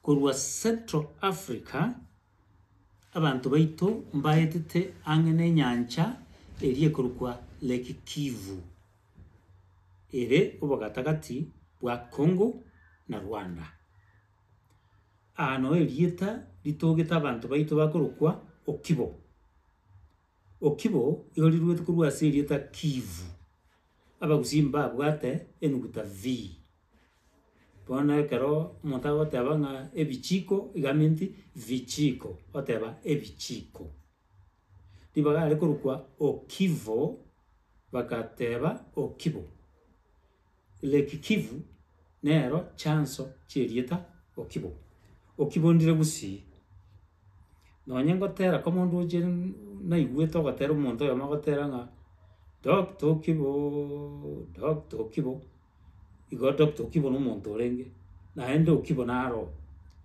Korwa Central Africa, abanto baito mbaetete ang'e nenyancha eria ekorokwa Lake Kivu, ere obogatagati bwa Congo na Rwanda. Aa noo erieta ritogete abanto baito bakorokwa Okibo. Okibo igo riruete korwa ase erieta Kivu, abagusii mbabwate enuguta V. Bono ekero omonto agoteba ng'a ebichiko, iga meansi vichiko, oteba ebichiko. Ribaga are korokwa okivo, bagateba okibo. Lake Kivu nero chanso chi'erieta okibo. Okibo ndire gusii, nonye ngotera koma ondoche naigwete ogotera omonto oyomo ogotera ng'a Doctor Okibooo, Doctor Okibo. igo tobwate okibe na omonto orenge naende okibe naro oo.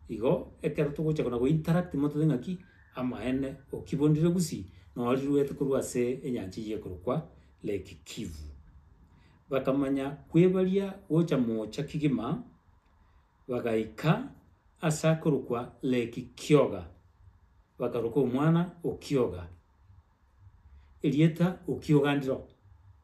Igo ekero togocha kona go-interact motabe ng'aki, amaene okibe ondire gusii, noo riruete korwa ase enyancha eyio ekorokwa Lake Kivu. Bakamanya kwebaria gocha moocha kegima, bagaika ase akorokwa Lake Kioga, bakaroka omwana Okioga, erieta Okioga ndiro.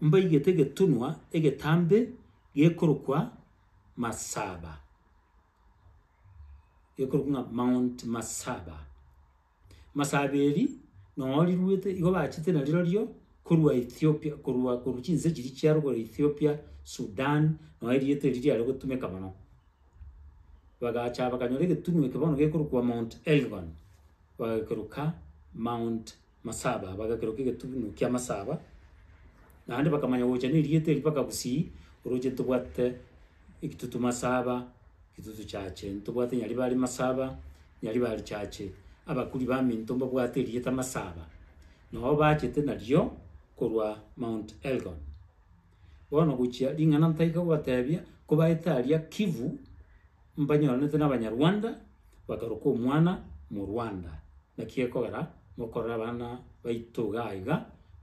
mbaigete egetunwa egetambe gekorokwa Masaba, gekorokwa ng'a Mount Masaba. Masaba eri nonya riruete igo bachete na rirorio korwa Ethiopia korwa korwa chinse chiria chiaro korwa Ethiopia, Sudan, nonya erieta eri riare gotumeka mono. Bagacha bakanyora egetunwa eke bono gekorokwa Mount Elgon, bagekeroka Mount. Masaba, bagakerwa kegetubunu kia Masaba, naende bakamanya gocha nerieta eri mpaka Busii, oroche ntobwate ekitutu Masaba, kitutu chache, ntobwate Nyaribari Masaba, Nyaribari chache. Abakuri baminto mbabwate erieta Masaba, nao bachete nario korwa Mount Elgon. Bono gochia ring'ana ntaika gobatebia, kobaete aria Kivu mbanyoranete n'Abanyarwanda, bakaruka omwana Murwanda. Naki gekogera mokorora abana baito iga iga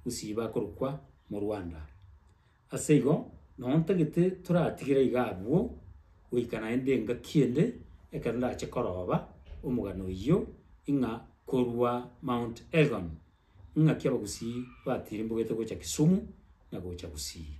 gusii bakorukwa Murwanda. Ase igo, nao ntagete toratigere iga abwo goika naende engaki ende ekero ndache koroba omogano oyio ing'a korwa Mount Elgon. ng'aki abagusii batirimbogete gocha Kisumu na gocha Gusii.